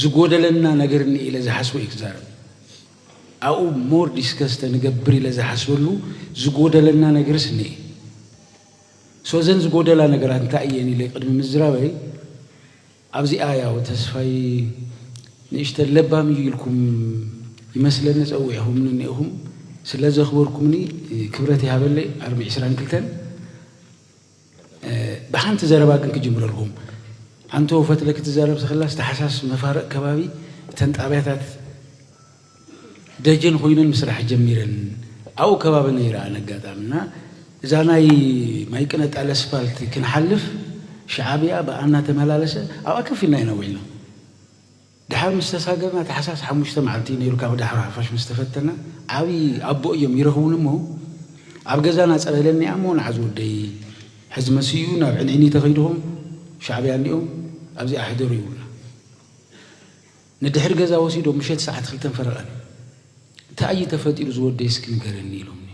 ዝጎደለና ነገር እኒ ኢለ ዝሓስቦ እዩ ክዛረብ ኣብኡ ሞር ዲስከስ ተንገብር ኢለ ዝሓስበሉ ዝጎደለና ነገርስ እኒ ሶዘን ዝጎደላ ነገራት እንታይ እየን ኢለ ቅድሚ ምዝራበይ ኣብዚኣ ያው ተስፋይ ንእሽተን ለባም እዩ ኢልኩም ይመስለኒ ጸዊዕኹምኒ እኒኤኹም ስለ ዘኽበርኩምኒ ክብረት ይሃበለይ ኣርሚ ዕስራን ክልተን ብሓንቲ ዘረባ ግን ክጅምረልኩም ኣንቶ ፈትለ ክትዛረብ ተኽላስ ተሓሳስ መፋርቕ ከባቢ እተን ጣብያታት ደጀን ኹይነን ምስራሕ ጀሚረን ኣብኡ ከባቢ ነይረ ኣነ ኣጋጣሚ እና እዛ ናይ ማይቅነ ጣል ስፓልት ክንሓልፍ ሻዓብያ ብኣ እናተመላለሰ ኣብኣ ከፍ ኢልና ኢና ውዒልና ድሓር ምስ ተሳገርና ታሕሳስ ሓሙሽተ መዓልቲ እዩ ነይሩ ካብ ዳሕሮ ሓፋሽ ምስ ተፈተና ዓብዪ ኣቦ እዮም ይረኽቡኒ እሞ ኣብ ገዛና ፀረለኒ እሞ ንዓዝ ወደይ ሕዚ መሲኡ እዩ ናብ ዕንዒኒ ተኸይድኹም ሻዕብያ እኒኦም ኣብዚኣ ሕደሩ ይብሉና ንድሕሪ ገዛ ወሲዶም ምሸት ሰዓት ክልተን ፈረቓን ታይ እዩ ተፈጢሩ ዝወደይ እስኪ ንገረኒ ኢሎምኒ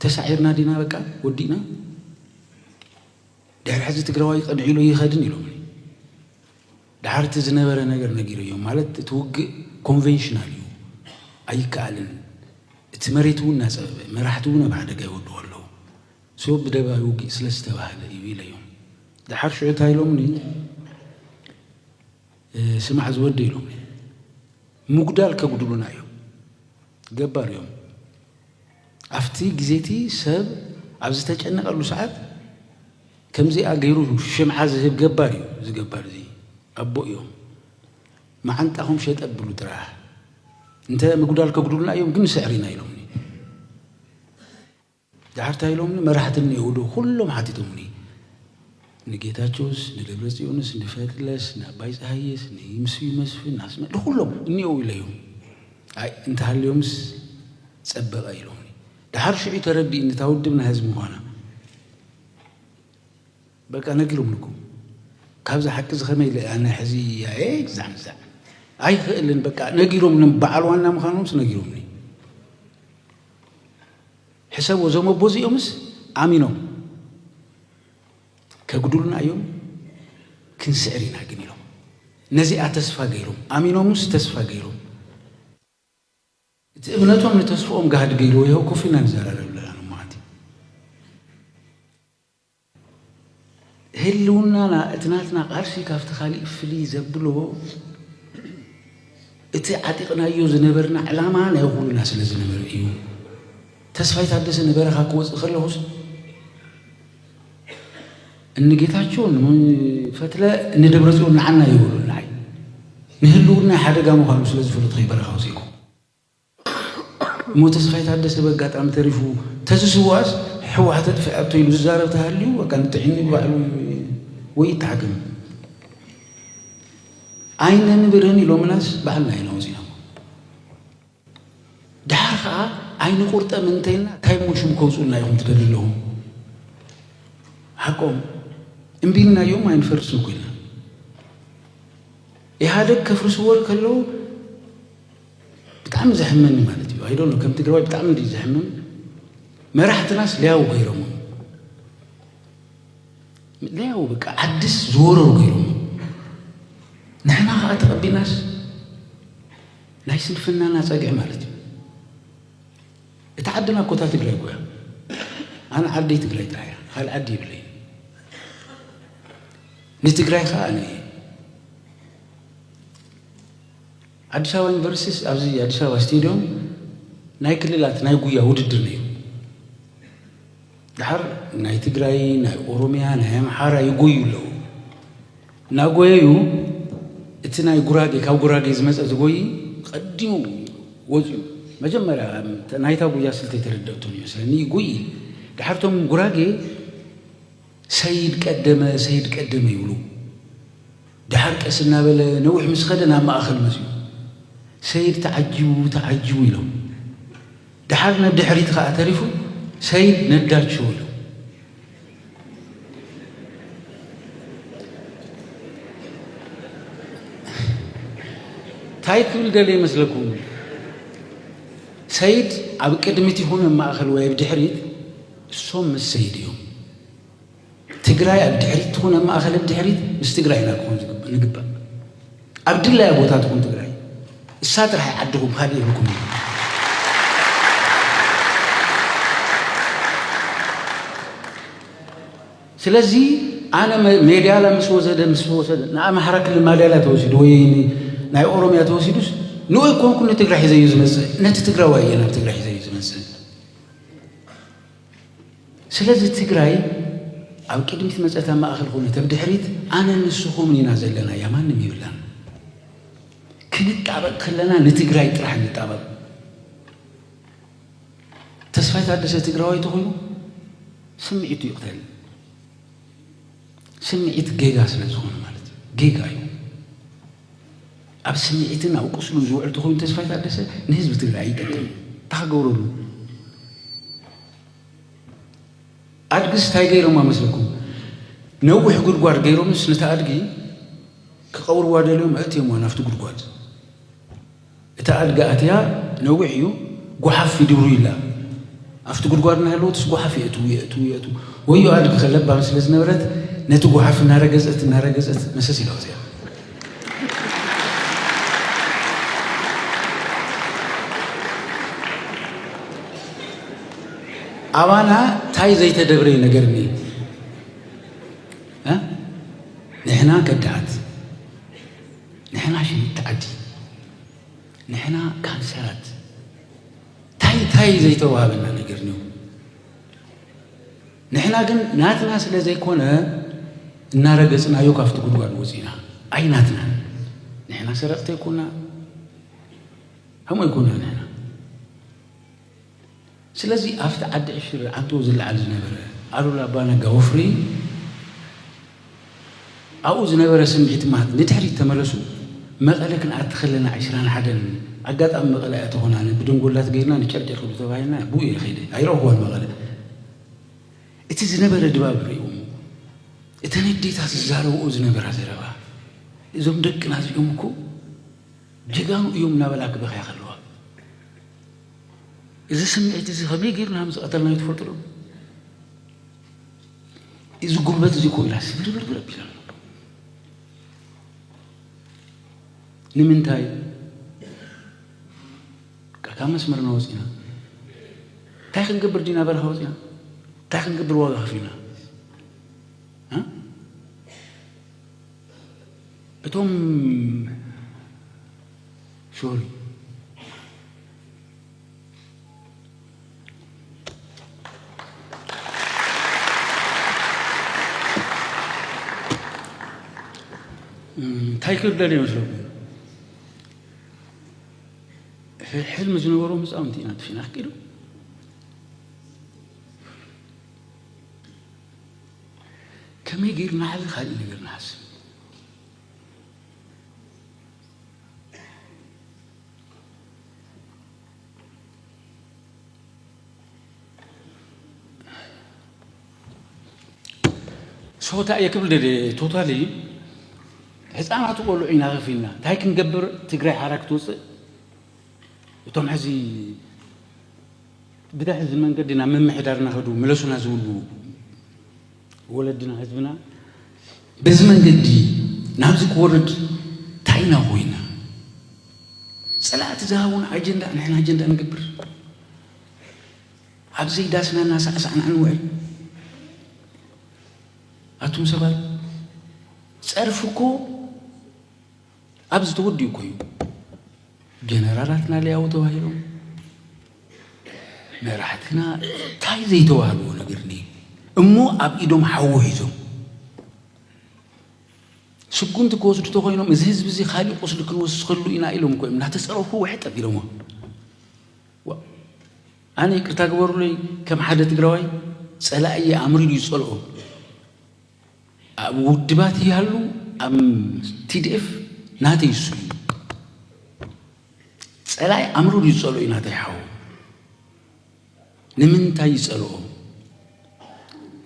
ተሳዒርና ዲና በቃ ወዲእና ድሕሪ ሕዚ ትግራዋይ ቅንዒሉ ኣይኸድን ኢሎምኒ ድሓር እቲ ዝነበረ ነገር ነጊረዮም ማለት እቲ ውግእ ኮንቬንሽናል እዩ ኣይከኣልን እቲ መሬት እውን እናፀበበ መራሕቲ እውን ኣብ ሓደጋ ይወድቑ ኣለዉ ሶ ብደባይ ውግእ ስለ ዝተባህለ እዩ ኢለዮም ድሓር ሽዑ እንታይ ኢሎምኒ ስማዕ እዚ ወዲ ኢሎም ምጉዳል ከጉድሉና እዮም ገባር እዮም ኣብቲ ግዜቲ ሰብ ኣብ ዝተጨነቀሉ ሰዓት ከምዚኣ ገይሩ ሽምዓ ዝህብ ገባር እዩ እዚ ገባር እዚ ኣቦ እዮም መዓንጣኹም ሸጥ ኣብሉ ጥራሕ እንተ ምጉዳል ከጉድሉና እዮም ግን ንስዕር ኢና ኢሎምኒ ደሓር ታይ ኢሎምኒ መራሕቲ እኒኦውዶ ኩሎም ሓቲቶምኒ ንጌታቸውስ ንደብረፅዮንስ ንፈትለስ ንኣባይ ፀሃየስ ንይምስዩ መስፍን ንኣስመ ንኩሎም እኒኦው ኢለዮም ኣይ እንተሃልዮምስ ፀበቐ ኢሎምኒ ደሓር ሽዑ ዩ ተረዲእኒ እታ ውድብ ናይ ህዝቢ ምዃና በቃ ነጊሮምልኩም ካብዚ ሓቂ እዚ ከመይ ኢለ ኣነ ሕዚ ኣየ ግዛዕ ምዛዕ ኣይኽእልን በቃ ነጊሮም በዓል ዋና ምዃኖምስ ነጊሮምኒ ሕሰቡ እዞም ኣቦ እዚኦምስ ኣሚኖም ከጉድሉና እዮም ክንስዕር ኢና ግን ኢሎም ነዚኣ ተስፋ ገይሮም ኣሚኖምስ ተስፋ ገይሮም እቲ እምነቶም ንተስፍኦም ጋህዲ ገይርዎ ይኸው ኮፍ ኢና ንዘራረብ ኣለና ንማዓንቲ ህልውናና እቲ ናትና ቃልሲ ካብቲ ካሊእ ፍልይ ዘብሎ እቲ ዓጢቕናዮ ዝነበርና ዕላማ ናይ ኹልና ስለ ዝነበረ እዩ። ተስፋይ ታደሰ ንበረኻ ክወፅእ ከለኹስ እንጌታቸው ፈትለ ንደብረፅዮን ንዓና ይበሉ ንዓይ ንህልውና ሓደጋ ምዃኑ ስለ ዝፈለጥኹ በረኻ ወፂእኩ። እሞ ተስፋይ ታደሰ በጋጣሚ ተሪፉ ተዝስዋእስ ሕወሓት ተጥፊኣቶ ኢሉ ዝዛረብ ተሃልዩ በቃ ንጥዒኒ ባዕሉ ወይ ይተሓከም ኣይነንብርን ኢሎምናስ ባዕልና ኢና ወፂና ድሓር ከዓ ኣይንቁርጠም እንተይልና እንታይ እሞ ሽም ከውፁልና ኢኹም ትደሊ ኣለኹ ሓቆም እምቢ ኢልናዮም ኣይንፈርስን ኮይና ኢህኣደግ ከፍርስዎ ከለዉ ብጣዕሚ ዘሕምም እዩ ማለት እዩ ኣይዶኖ ከም ትግራዋይ ብጣዕሚ እንዲ ዘሕምም መራሕትናስ ለያው ገይሮም ለያው በቃ ዓድስ ዝወረሩ ገይሮም ንሕና ከዓ ተቐቢናስ ናይ ስንፍናና ፀግዒ ማለት እዩ እቲ ዓድና ኮታ ትግራይ ጎያ ኣነ ዓደይ ትግራይ ጥራሕ እያ ካልእ ዓዲ ይብለይ ንትግራይ ከዓ ኣነ እየ ኣዲስ ኣበባ ዩኒቨርሲቲስ ኣብዚ ኣዲስ ኣበባ ስቴድዮም ናይ ክልላት ናይ ጉያ ውድድር ነይሩ። ድሓር ናይ ትግራይ፣ ናይ ኦሮምያ፣ ናይ ኣምሓራ ይጎዩ ኣለዉ። እናጎየዩ እቲ ናይ ጉራጌ ካብ ጉራጌ ዝመፀ ዝጎይ ቀዲሙ ወፅኡ መጀመርያ ናይታ ጉያ ስልተይ ተረደእቶም ይመስለኒ ይጉይ ድሓርቶም ጉራጌ ሰይድ ቀደመ ሰይድ ቀደመ ይብሉ። ደሓር ቀስ እናበለ ነዊሕ ምስ ኸደ ናብ ማእኸል መፂኡ። ሰይድ ተዓጂቡ ተዓጂቡ ኢሎም። ደሓር ነድሕሪት ኸዓ ተሪፉ ሰይድ ነዳቸው ኢሎም። ታይ ክብል ደልየ ይመስለኩም? ሰይድ ኣብ ቅድሚት ይኹን ኣብ ማእኸል ወይ ኣብ ድሕሪት እሶም ምስ ሰይድ እዮም ትግራይ ኣብ ድሕሪት ትኹን ኣብ ማእኸልን ድሕሪት ምስ ትግራይ ኢና ክኾን ዝግባእ ንግባእ ኣብ ድላያ ቦታ ትኹን ትግራይ እሳ ጥራሕ ዓድኹም ካልእ የብልኩም እዩ ስለዚ ኣነ ሜዳላ ምስ ወሰደ ምስ ወሰደ ንኣምሓራ ክልል ማዳላ ተወሲዱ ወይ ናይ ኦሮምያ ተወሲዱስ ንኡይ ኮንኩ ንትግራይ ሒዘዩ ዝመፅእ ነቲ ትግራዋይ እየ ናብ ትግራይ ሒዘዩ ዝመፅእ ስለዚ ትግራይ ኣብ ቅድሚት መፀት ኣብ ማእኸል ኮነ ተብ ድሕሪት ኣነ ንስኹምን ኢና ዘለና እያ ማንም ይብላን ክንጣበቅ ከለና ንትግራይ ጥራሕ ንጣበቅ ተስፋይ ታደሰ ትግራዋይ ተኾይኑ ስምዒቱ ይቕተል ስምዒት ጌጋ ስለ ዝኾነ ማለት እዩ ጌጋ እዩ ኣብ ስምዒትን ኣብ ቁስሉን ዝውዕል ተኾይኑ ተስፋይ ታደሰ ንህዝቢ ትግራይ ይጠቅም እንታይ ክገብረሉ ኣድግስ እንታይ ገይሮማ መስለኩም ነዊሕ ጉድጓድ ገይሮምስ ነቲ ኣድጊ ክቐብርዋ ደልዮም ኣእትዮምዋ ናብቲ ጉድጓድ እታ ኣድጊ ኣትያ ነዊሕ እዩ ጓሓፍ ይድርብዩላ ኣፍቲ ጉድጓድ እናሃለወትስ ጓሓፍ የእትዉ የእትዉ የእትዉ ወዮ ኣድጊ ከ ለባም ስለ ዝነበረት ነቲ ጓሓፍ እናረገጸት እናረገጸት መሰስ ኢላ ወጽያ ኣባና ታይ ዘይተደብረ ነገር ኒ ንሕና ከዳዓት ንሕና ሽንቲ ዓዲ ንሕና ካንሰራት ታይ ታይ ዘይተዋህበና ነገር ኒው ንሕና ግን ናትና ስለ ዘይኮነ እናረገጽናዮ ካብቲ ጉድጓድ ወፂና ኣይ ናትና ንሕና ሰረቕቲ ይኩና ከምኡ ይኩና ንሕና ስለዚ ኣብቲ ዓዲ ዕሽር ዓንተኡ ዝለዓል ዝነበረ ኣሉላ ኣባነጋ ወፍሪ ኣብኡ ዝነበረ ስምዒት ማት ንድሕሪት ተመለሱ መቐለ ክንኣቲ ከለና ዕስራን ሓደን ኣጋጣሚ መቐለ ኣያ ተኾናኒ ብድንጎላት ገይርና ንጨርጨር ክብሉ ተባሂልና ብኡ እየ ከይደ ኣይረኹዋን መቐለ እቲ ዝነበረ ድባብ ሪእዎም እተን ኣዴታት ዝዛረብኦ ዝነበራ ዘረባ እዞም ደቅና እዚኦም እኮ ጀጋኑ እዮም እናበላ ክበኽያ ከለዋ እዚ ስምዒት እዚ ከመይ ጌርና ምስ ቀተልናዮ ትፈልጡ ዶ? እዚ ጉልበት እዚ እኮ ኢላ ስብርብርብር ኣቢላ ኣሎ። ንምንታይ ካብ መስመርና ወፂና እንታይ ክንገብር ዲና በረኻ ወፂና እንታይ ክንገብር ዋጋ ከፊልና እቶም ሶሪ እንታይ ክብደል ይመስለኩም ሕልሚ ዝነበሮም ህፃውንቲ ኢና ትፊና ክቂዱ ከመይ ገይርና ሕዚ ካልእ ነገር ንሓስብ ሰው ታየ ክብል ቶታሊ ህፃናት ቆልዑ ኢና ከፍ ኢልና እንታይ ክንገብር ትግራይ ሓራ ክትውፅእ እቶም ሕዚ ብድሕዚ መንገዲ ናብ ምምሕዳር እናኸዱ ምለሱና ዝብሉ ወለድና ህዝብና በዚ መንገዲ ናብዚ ክወርድ ታይና ኮይና ፀላእቲ ዝሃቡን ኣጀንዳ ንሕና ኣጀንዳ ንገብር ኣብዘይ ዳስና እናሳዕሳዕና ንውዕል ኣቱም ሰባት ጸርፍኮ ኣብዚ ተወዲኡ እኮ እዩ ጀነራላትና ሊያው ተባሂሎም መራሕትና እንታይ ዘይተባህልዎ ነገር እኒ እሞ ኣብ ኢዶም ሓዊ ሒዞም ስጉምቲ ክወስዱ ተኮይኖም እዚ ህዝቢ እዚ ካሊእ ቁስሊ ክንወስኸሉ ኢና ኢሎም እኮ እዮም እናተፀረፉ ውሕጥ ኣቢሎሞ ኣነ ይቅርታ ግበሩለይ ከም ሓደ ትግራዋይ ፀላእየ ኣምሪሩ ይፀልኦ ኣብ ውድባት ይሃሉ ኣብ TDF ናተይ እሱ እዩ ፀላኢ ኣምሩር እዩ ዝፀልኦ እዩ ናተይ ሓው ንምንታይ ይፀልኦ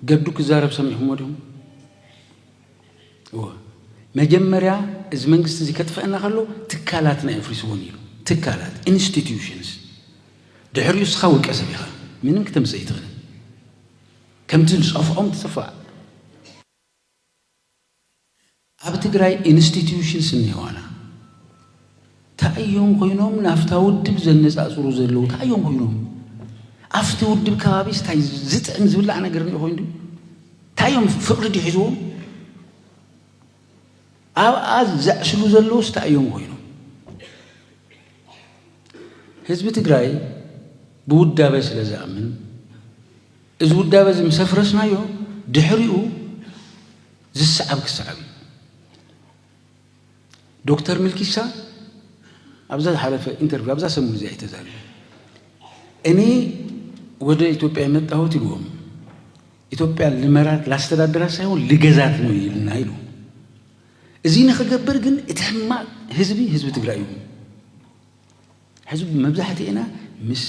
ገዱ ክዛረብ ሰሚዕኹሞ ዲኹም እወ መጀመርያ እዚ መንግስቲ እዚ ከጥፍአና ከሎ ትካላትና የፍሪስዎን ኢሉ ትካላት ኢንስቲትዩሽንስ ድሕሪኡ እስኻ ውልቀ ሰብ ኢኻ ምንም ክተምፅእ ይትኽእል ከምቲ ዝጸፍዖም ትጽፋእ። ኣብ ትግራይ ኢንስቲትዩሽንስ እኒሀዋና ታይ እዮም ኮይኖም ናፍታ ውድብ ዘነፃፅሩ ዘለው ታይ እዮም ኮይኖም ኣፍቲ ውድብ ከባቢስ ታይ ዝጥዕም ዝብላዕ ነገር እኒኦ ኮይኑ ድዩ ታይ እዮም ፍቅሪ ድዩ ሒዝዎም ኣብኣ ዘዕስሉ ዘለውስ ታይ እዮም ኮይኖም ህዝቢ ትግራይ ብውዳበ ስለ ዝኣምን እዚ ውዳበ እዚ ምስ ኣፍረስናዮ ድሕሪኡ ዝሰዓብ ክሰዓብ እዩ። ዶክተር ሚልኪሳ ኣብዛ ዝሓለፈ ኢንተርቪው ኣብዛ ሰሙን እዚኣ ተዛሪቡ እኔ ወደ ኢትዮጵያ የመጣሁት ይልዎም ኢትዮጵያ ልመራት ላስተዳድራ ሳይሆን ልገዛት ነው ይልና ይሉ እዚ ንክገብር ግን እቲ ሕማቅ ህዝቢ ህዝቢ ትግራይ እዩ። ሕዚ መብዛሕትኤና ምስ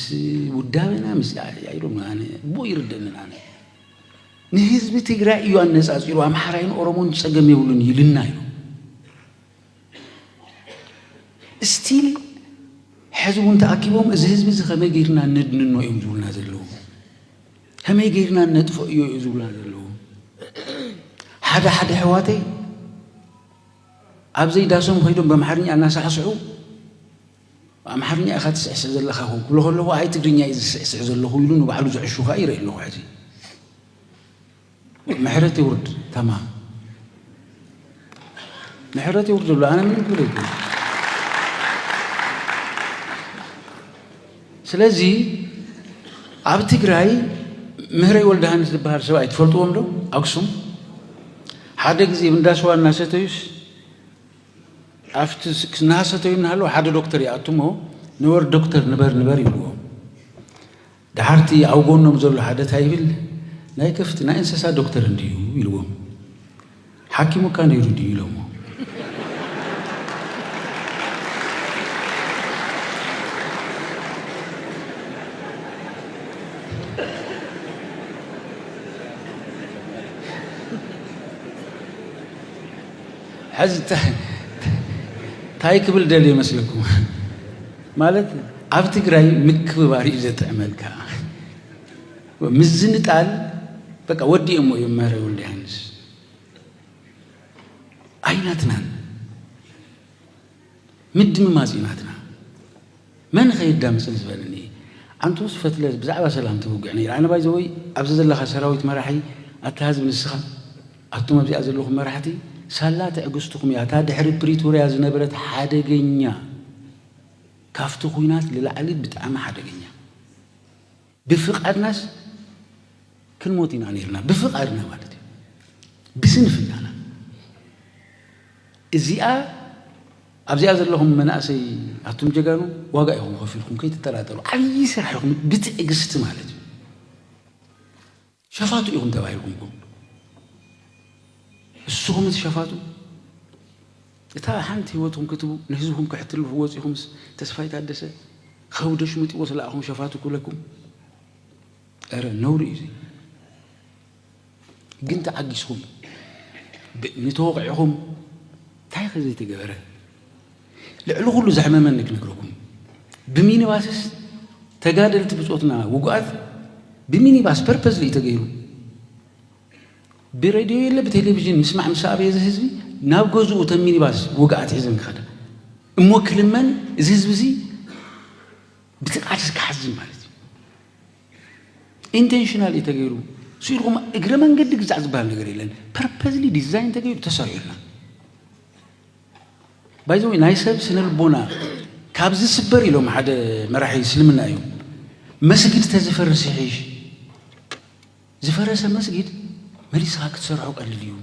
ውዳበና ምስ ኣይ ዶንት ኖ ኣነ ብኡ ኣይርደእንን ኣነ ንህዝቢ ትግራይ እዩ ኣነፃፂሩ ኣምሓራይን ኦሮሞን ፀገም የብሉን ይልና እዩ ስቲል ሕዚ እውን ተኣኪቦም እዚ ህዝቢ እዚ ከመይ ገይርና ነድንኖ እዮም ዝብሉና ዘለዉ ከመይ ገይርና ነጥፍኦ እዮ እዩ ዝብሉና ዘለዉ ሓደ ሓደ ኣሕዋተይ ኣብዘይ ዳሶም ከይዶም በምሓርኛ እናሳሕስሑ ብኣምሓርኛ ኢኻ ትስዕስዕ ዘለኻ ክብሉ ከለኹ ኣይ ትግርኛ እዩ ዝስዕስዕ ዘለኹ ኢሉ ንባዕሉ ዝዕሹ ከዓ ይርኢ ኣለኹ ሕዚ ምሕረት ይውርድ ተማም ምሕረት ይውርድ ኣሎ ኣነ ምን ክብል ስለዚ ኣብ ትግራይ ምህረይ ወልደሃንስ ዝበሃል ሰብኣይ ትፈልጥዎም ዶ ኣክሱም ሓደ ግዜ እንዳስዋ እናሰተዩስ ኣብቲ እናሰተዩ እናሃለዉ ሓደ ዶክተር ይኣቱሞ ንበር ዶክተር ንበር ንበር ይብልዎም ደሓርቲ ኣብ ጎኖም ዘሎ ሓደ እንታይ ይብል ናይ ከፍቲ ናይ እንስሳ ዶክተር እንድዩ ይብልዎም ሓኪሙካ ነይሩ ድዩ ኢሎሞ። ሕዚ ታይ ክብል ደልየ መስለኩም ማለት ኣብ ትግራይ ምክብባር እዩ ዘጥዕመልካ ምዝንጣል በቃ ወዲኦሞ እዮም መህረ ወልደሃንስ ኣይናትናን ምድምማፅ እዩ ናትና መን ኸየዳምፅን ዝበለኒ ኣንተወስ ፈትለ ብዛዕባ ሰላም ትውግዕ ነይራ ኣነ ባይ ዘወይ ኣብዚ ዘለኻ ሰራዊት መራሒ ኣታ ህዝቢ ንስኻ ኣቱም ኣብዚኣ ዘለኹም መራሕቲ ሳላ ትዕግስትኹም እያ እታ ድሕሪ ፕሪቶርያ ዝነበረት ሓደገኛ ካፍቲ ኩናት ልላዕሊ ብጣዕሚ ሓደገኛ ብፍቃድናስ ክንሞት ኢና ነይርና ብፍቃድና ማለት እዩ ብስንፍናና እዚኣ ኣብዚኣ ዘለኹም መናእሰይ ኣቱም ጀጋኑ ዋጋ ኢኹም ከፊልኩም ከይትጠራጠሩ ዓብዪ ስራሕ ኢኹም ብትዕግስቲ ማለት እዩ ሸፋቱ ኢኹም ተባሂልኩም ኢኹም ንስኹም እቲ ሸፋቱ እታ ሓንቲ ህይወትኩም ክትቡ ንህዝብኩም ከሕትልፉ ወፂኹምስ ተስፋይ ታደሰ ከብዶ ሽምጢዎ ስለኣኹም ሸፋቱ ክብለኩም ረ ነውሪ እዩ ግን ተዓጊስኩም ንተወቂዕኹም እንታይ ከ ዘይተገበረ ልዕሊ ኩሉ ዘሕመመኒ ክነግረኩም ብሚኒባስስ ተጋደልቲ ብጾትና ውጉኣት ብሚኒባስ ፐርፐዝሊ እዩ ተገይሩ ብሬድዮ የለ ብቴሌቭዥን ምስማዕ ምስ ኣበየ እዚ ህዝቢ ናብ ገዝኡ እተን ሚኒባስ ውግኣት ሒዘን ክኸዳ እሞ ክልመን እዚ ህዝቢ እዚ ብትቃልስ ክሓዝን ማለት ኢንቴንሽናል እዩ ተገይሩ ስኢልኩም እግረ መንገዲ ግዛዕ ዝበሃል ነገር የለን ፐርፐዝሊ ዲዛይን ተገይሩ ተሰሪዑልና ባይዘ ወይ ናይ ሰብ ስነ ልቦና ካብ ዝስበር ኢሎም ሓደ መራሒ እስልምና እዮም መስጊድ ተዝፈርስ ይሕሽ ዝፈረሰ መስጊድ መሊስኻ ክትሰርሖ ቀልል እዩ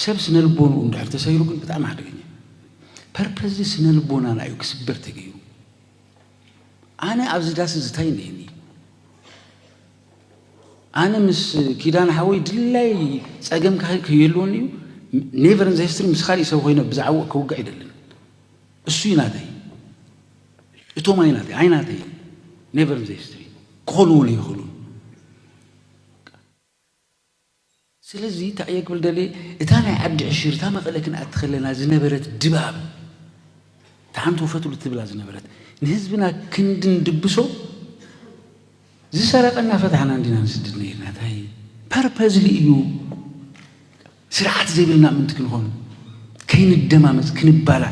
ሰብ ስነ ልቦንኡ እንድሕር ተሰይሩ ግን ብጣዕሚ ሓደገኛ ፐርፐዝ ስነ ልቦናና እዩ ክስበር ተገይሩ ኣነ ኣብዚ ዳስ ዝታይ እኒአኒ ኣነ ምስ ኪዳን ሓወይ ድላይ ጸገም ከየልወኒ እዩ ኔቨር ዘ ሂስትሪ ምስ ካሊእ ሰብ ኮይነ ብዛዕባ ክውጋእ ይደልን እሱ እዩ ናተይ እቶም ኣይ ናተይ ኣይ ናተይ ኔቨር ዘ ሂስትሪ ክኾኑ እውን ይኽእሉን ስለዚ እንታይ እየ ክብል ደልየ እታ ናይ ዓዲ ዕሽር እታ መቐለ ክንኣቲ ከለና ዝነበረት ድባብ እታ ሓንቲ ውፈትሉ ትብላ ዝነበረት ንህዝብና ክንዲ ንድብሶ ዝሰረቐ እናፈታሕና እንዲና ንስድድ ነይርና እንታይ ፐርፐዝሊ እዩ ስርዓት ዘይብልና ምንቲ ክንኾኑ ከይንደማመፅ ክንባላ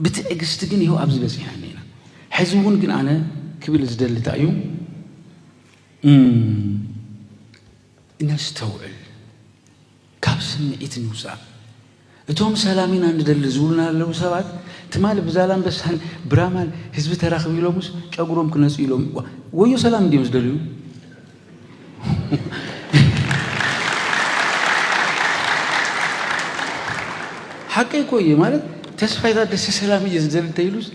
ብትዕግስቲ ግን ይሀው ኣብዚ በጺሕና እኒኤና ሕዚ እውን ግን ኣነ ክብል ዝደሊ እንታይ እዩ እነስተውዕል ካብ ስምዒት ንውፃእ እቶም ሰላም ኢና ንደሊ ዝብሉና ኣለዉ ሰባት ትማሊ ብዛላምበሳን ብራማን ህዝቢ ተራኽቢ ኢሎምስ ጨጉሮም ክነፁ ኢሎም ወዮ ሰላም እንዲዮም ዝደልዩ ሓቀይ እኮ እየ ማለት ተስፋይ ታደሰ ሰላም እየ ዝደሊ እንተይሉስ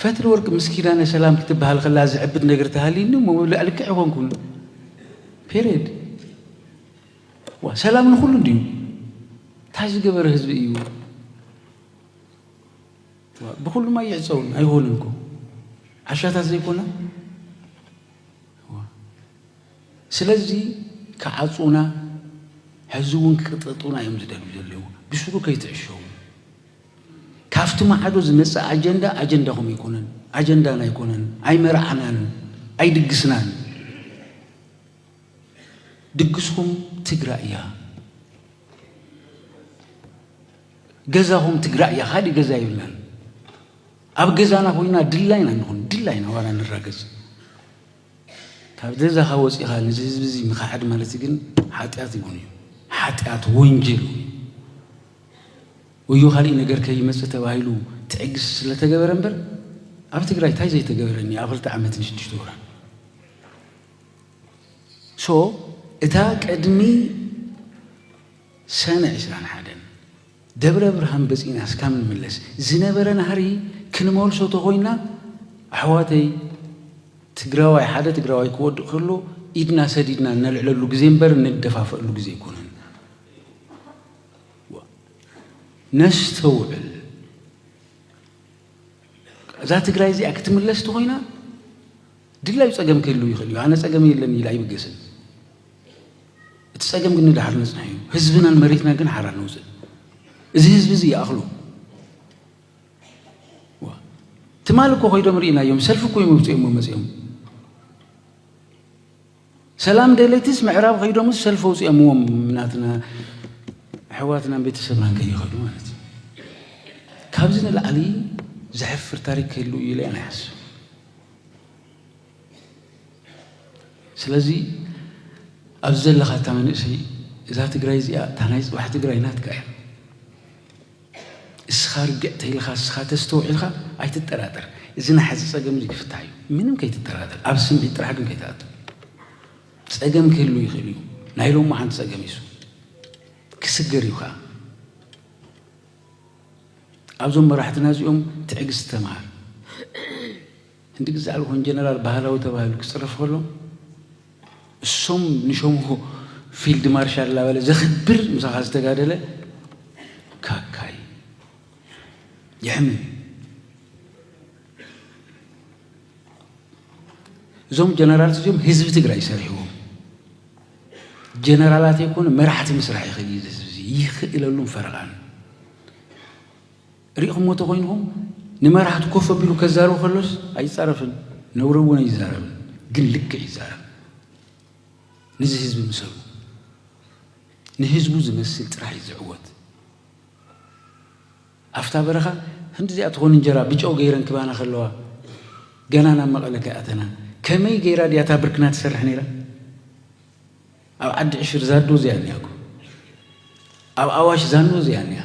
ፈትሊ ወርቂ ምስ ኪዳነ ሰላም ክትበሃል ከላ ዝዕብድ ነገር ተሃልዩኒ እሞ ልክዕ ይኾንኩም ፔሬድ ዋ ሰላም ንኹሉ እንድዩ እንታይ ዝገበረ ህዝቢ እዩ ብኩሉማ ይዕፀውን ኣይሆንን እኮ ዓሻታት ዘይኮነ ስለዚ ክዓጹና ሕዚ እውን ክቅጠጡና እዮም ዝደልዩ ዘለዉ ብስሩ ከይትዕሸዉ ካፍቲ ማዕዶ ዝመጽእ ኣጀንዳ ኣጀንዳኹም ኣይኮነን ኣጀንዳና ኣይኮነን ኣይመርዓናን ኣይድግስናን ድግስኹም ትግራይ እያ ገዛኹም ትግራይ እያ ካሊእ ገዛ የብልናን ኣብ ገዛና ኮይና ድላይና ንኹን ድላይና ዋላ ንራገጽ ካብ ገዛኻ ወጺኻ ነዚ ህዝቢ እዚ ምኽሓድ ማለት ግን ሓጢኣት ይኹን እዩ ሓጢኣት ወንጀል እዩ ወዮ ካልእ ነገር ከይመጽእ ተባሂሉ ትዕግስቲ ስለተገበረ እምበር ኣብ ትግራይ እንታይ ዘይተገበረኒ ኣብ ክልተ ዓመት ንሽዱሽተ ወራ ሶ እታ ቅድሚ ሰነ ዕስራን ሓደን ደብረ ብርሃን በጺና እስካብ ንምለስ ዝነበረ ናህሪ ክንመልሶ ተኮይና ኣሕዋተይ ትግራዋይ ሓደ ትግራዋይ ክወድቅ ከሎ ኢድና ሰዲድና እነልዕለሉ ግዜ እምበር እንደፋፈኣሉ ግዜ ኣይኮነን ነስተውዕል እዛ ትግራይ እዚኣ ክትምለስ ተኮይና ድላዩ ጸገም ክህልው ይኽእል እዩ። ኣነ ጸገም የለን ኢለ ኣይብገስን። እቲ ጸገም ግን ንድሓር ነጽንሖ እዩ። ህዝብናን መሬትናን ግን ሓራ ነውጽእ። እዚ ህዝቢ እዚ ይኣኽሎ። ትማል እኮ ኮይዶም ርኢናዮም ሰልፊ እኮ እዮም ኣውፂኦሞ መፂኦም ሰላም ደለይትስ ምዕራብ ከይዶምስ ሰልፊ ኣውፂኦምዎም ናትና ኣሕዋትናን ቤተሰብናን ከይኸዱ ማለት እዩ። ካብዚ ንላዕሊ ዘሕፍር ታሪክ ክህሉ እዩ ኢለ ኣነ ይሓስብ። ስለዚ ኣብዚ ዘለኻ እታ መንእሰይ እዛ ትግራይ እዚኣ እታ ናይ ፅባሕ ትግራይ ናትካ እያ። እስኻ ርግእ ተይልኻ እስኻ ተስተውዒልካ ኣይትጠራጠር እዚ ናይ ሐዚ ፀገም እዙይ ክፍታሕ እዩ ምንም ከይትጠራጠር ኣብ ስምዒት ጥራሕ ግን ከይትኣቱ ፀገም ክህሉ ይኽእል እዩ ናይ ሎማዓንቲ ፀገም እሱ ክስገር እዩ ከዓ ኣብዞም መራሕትና እዚኦም ትዕግስቲ ተምሃር ሕንቲ ግዜ ኣልሆን ጀነራል ባህላዊ ተባሂሉ ክጽረፍ ከሎ እሶም ንሸምሁ ፊልድ ማርሻል ላበለ ዘክብር ምሳኻ ዝተጋደለ ካካይ የሕምም እዞም ጀነራል እዚኦም ህዝቢ ትግራይ ሰሪሕዎም ጀነራላት የኮነ መራሕቲ ምስራሕ ይኽእል እዩ ህዝቢ ይኽእለሉን ፈረቓን ሪእኹሞ ተኾይንኹም ንመራሕቱ ኮፍ ኣቢሉ ከዛርብ ከሎስ ኣይጻረፍን ነውሪ እውን ኣይዛረብን ግን ልክዕ ይዛረብ ንዚ ህዝቢ ምሰሉ ንህዝቡ ዝመስል ጥራሕ እዩ ዝዕወት ኣፍታ በረኻ ከምዚኣ ትኾን እንጀራ ብጨው ገይረን ክባና ከለዋ ገና ናብ መቐለ ከይኣተና ከመይ ገይራ ድያ እታ ብርክና ትሰርሕ ነይራ ኣብ ዓዲ ዕሽር ዛዱ እዚኣ እኒኣኮ ኣብ ኣዋሽ ዛኑ እዚኣ እኒኣ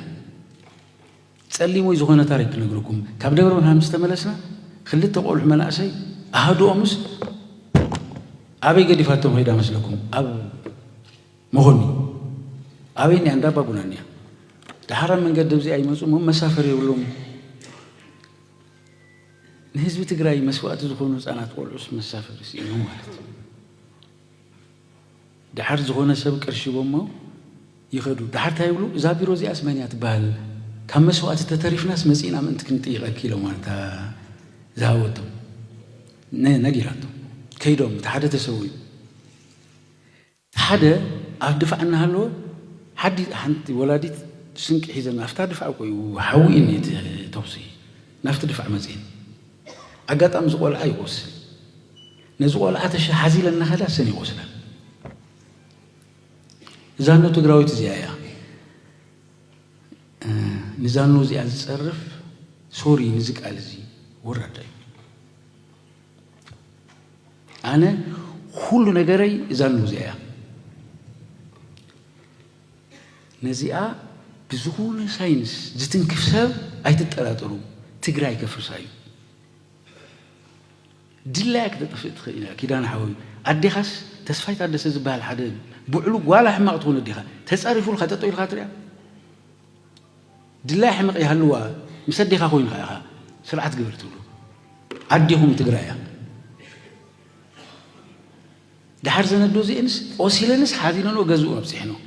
ጸሊሙይ ዝኾነ ታሪክ ክነግረኩም ካብ ደብረ ብርሃን ምስ ተመለስና ክልተ ቆልዑ መናእሰይ ኣሃዱኦምስ ኣበይ ገዲፋቶም ኸይዳ መስለኩም ኣብ መኾኒ ኣበይ እኒኣ እንዳባጉና እኒኣ ድሓራ መንገዲ እዚኣ ይመፁ እሞ መሳፈር የብሎም ንህዝቢ ትግራይ መስዋእቲ ዝኾኑ ህፃናት ቆልዑስ መሳፈር ስኢኖም ማለት እዩ ደሓር ዝኾነ ሰብ ቅርሺ ሂቦሞ ይኸዱ። ደሓር እንታይ ይብሉ፣ እዛ ቢሮ እዚኣስ መን እያ ትበሃል፣ ካብ መስዋእቲ ተተሪፍናስ መፂእና ምእንቲ ክንጥይቐኪ ኢሎማ እታ ዝሃበቶም ነጊራቶም ከይዶም፣ እቲ ሓደ ተሰዊኡ። እቲ ሓደ ኣብ ድፋዕ እናሃለወ ሓዲ ሓንቲ ወላዲት ስንቂ ሒዘን ኣብታ ድፋዕ ሓዊ እዩ እቲ ተኹሲ ናብቲ ድፋዕ መፂኤን። ኣጋጣሚ እዚ ቆልዓ ይቆስል ነዚ ቆልዓ ተሸ ሓዚ ኢለ እናኸዳ ሰን ይቆስላ ዛኖ ትግራዊት እዚኣ እያ ንዛኖ እዚኣ ዝፀርፍ ሶሪ ንዚ ቃል እዚ ወራዳ እዩ ኣነ ኩሉ ነገረይ እዛ ነው እዚኣ እያ ነዚኣ ብዝኾነ ሳይንስ ዝትንክፍ ሰብ ኣይትጠራጠሩ ትግራይ ከፍርሳ እዩ ድላያ ክተጥፍእ ትኽእል እያ ኪዳን ሓወይ ኣዴኻስ ተስፋይ ታደሰ ዝበሃል ሓደ ብዕሉ ጓላ ሕማቕ ትኾነ ኣዴኻ ተፃሪፉልካ ጠጠው ኢልካ ትሪያ ድላይ ሕመቕ ይሃልዋ ምስ ኣዴኻ ኮይንካ ኢኻ ስርዓት ግበር ትብሉ ኣዴኹም ትግራያ ደሓር እዘን ኣዶ እዚኤንስ ቆሲለንስ ሓዚነንኦ ገዝኡ ኣብፂሐንኦ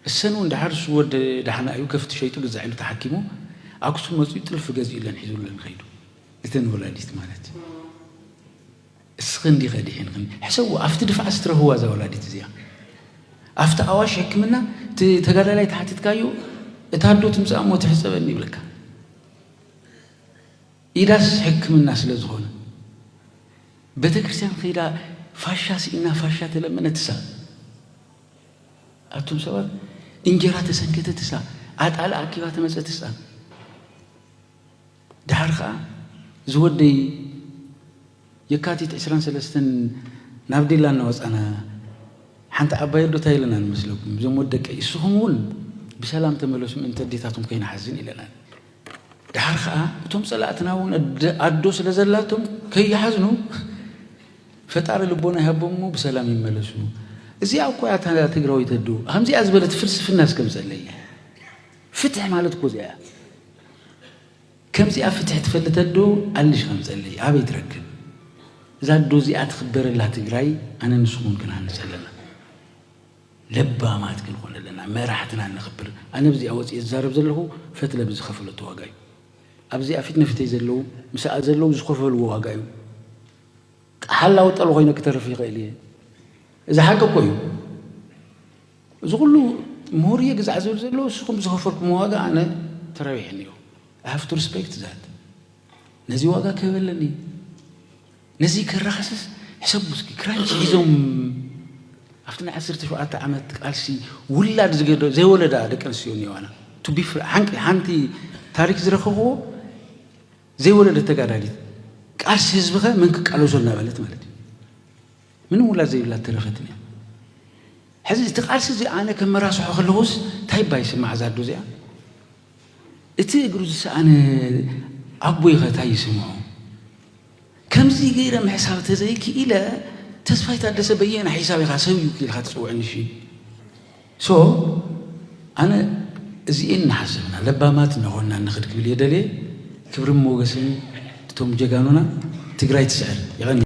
እሰን እውን ደሓር እሱ ወድ ደሓን ኣዩ ከፍት ሸይጡ ግዛዕ ኢሉ ተሓኪሙ ኣክሱም መፂኡ ጥልፊ ገዚኡለን ሒዙለን ከይዱ እተን ወላዲት ማለት እስኽን እንዲኸ ድሒንኽን ሕሰብዎ ኣብቲ ድፋዕስ ትረህዋ እዛ ወላዲት እዚኣ ኣብቲ ኣዋሽ ሕክምና እቲ ተጋዳላይ ተሓቲትካዮ እታ ኣዶ ትምፃእ እሞ ትሕፀበኒ ይብለካ ኢዳስ ሕክምና ስለ ዝኾነ ቤተክርስትያን ከይዳ ፋሻ ስኢና ፋሻ ተለመነትሳ ኣቱም ሰባት እንጀራ ተሰንከተትሳ ኣጣል ኣኪባ ተመፀትሳ ድሓር ከዓ ዝወደይ የካቲት ዕስራን ሰለስተን ናብ ዲላ እናወፃና ሓንቲ ዓባይ ኣዶ እንታይ ኢለና ንመስለኩም እዞም ወደቀይ እስኹም እውን ብሰላም ተመለሱ ምእንቲ ኣዴታትኩም ከይንሓዝን ኢለናን ደሓር ከኣ እቶም ጸላእትና እውን ኣዶ ስለ ዘላቶም ከይሓዝኑ ፈጣሪ ልቦና ይሃቦም እሞ ብሰላም ይመለሱ። እዚኣ እኮ እያ እታ ትግራወይቲ ኣዶ ከምዚኣ ዝበለት ፍልስፍና እስከምጸለይ ፍትሕ ማለት እኮ እዚኣ ከምዚኣ ፍትሕ ትፈልጥ ኣዶ ኣልሽ ከምጸለይ ኣበይ ትረክብ እዛ ኣዶ እዚኣ ትኽበረላ ትግራይ ኣነ ንስኹን ክንሃንጽ ኣለና። ለባማት ክንኾን ኣለና መራሕትና ነኽብር ኣነ ብዚኣ ወጺኤ ዝዛረብ ዘለኹ ፈትለ ብዝኸፈለቶ ዋጋ እዩ ኣብዚኣ ፊት ንፊተይ ዘለዉ ምሳኣ ዘለዉ ዝኸፈልዎ ዋጋ እዩ ሓላዊ ጠል ኮይነ ክተርፍ ይኽእል እየ እዚ ሓቂ እኮ እዩ እዚ ኩሉ ምሁር እየ ግዛዕ ዝብል ዘሎ ንስኹም ዝኸፈልኩም ዋጋ ኣነ ተረቢሐኒ እዩ ሃፍቱ ሪስፔክት ዛት ነዚ ዋጋ ክህብ ኣለኒ ነዚ ከራኸስስ ሕሰቡ እስኪ ክራንች ሒዞም ኣብቲ ናይ ዓሰርተ ሸውዓተ ዓመት ቃልሲ ውላድ ዝገደ ዘይወለዳ ደቂ ኣንስትዮ እኒዋና ቱቢ ሓንቂ ሓንቲ ታሪክ ዝረኸኽዎ ዘይወለደት ተጋዳሊት ቃልሲ ህዝብኸ መን ክቃለሶ እናበለት ማለት እዩ ምንም ውላድ ዘይብላ ተረፈትን እያ ሕዚ እቲ ቃልሲ እዚ ኣነ ከመራስሖ ከለኹስ እንታይ ባይ ስማዕ ዛዶ እዚኣ እቲ እግሩ ዝሰኣነ ኣቦይኸ ታይ ይስምዖ? ከምዚ ገይረ ምሕሳብ ተዘይክኢለ ተስፋይ ታደሰ በየና ሒሳብ ኢኻ ሰብ እዩ ኢልካ ትፅውዕኒ እሺ ሶ ኣነ እዚኤን እናሓሰብና ለባማት እናኾንና ንኽድ ክብል እየ ደልየ ክብርን ሞገስን እቶም ጀጋኑና ትግራይ ትስዕር የቐንየለይ።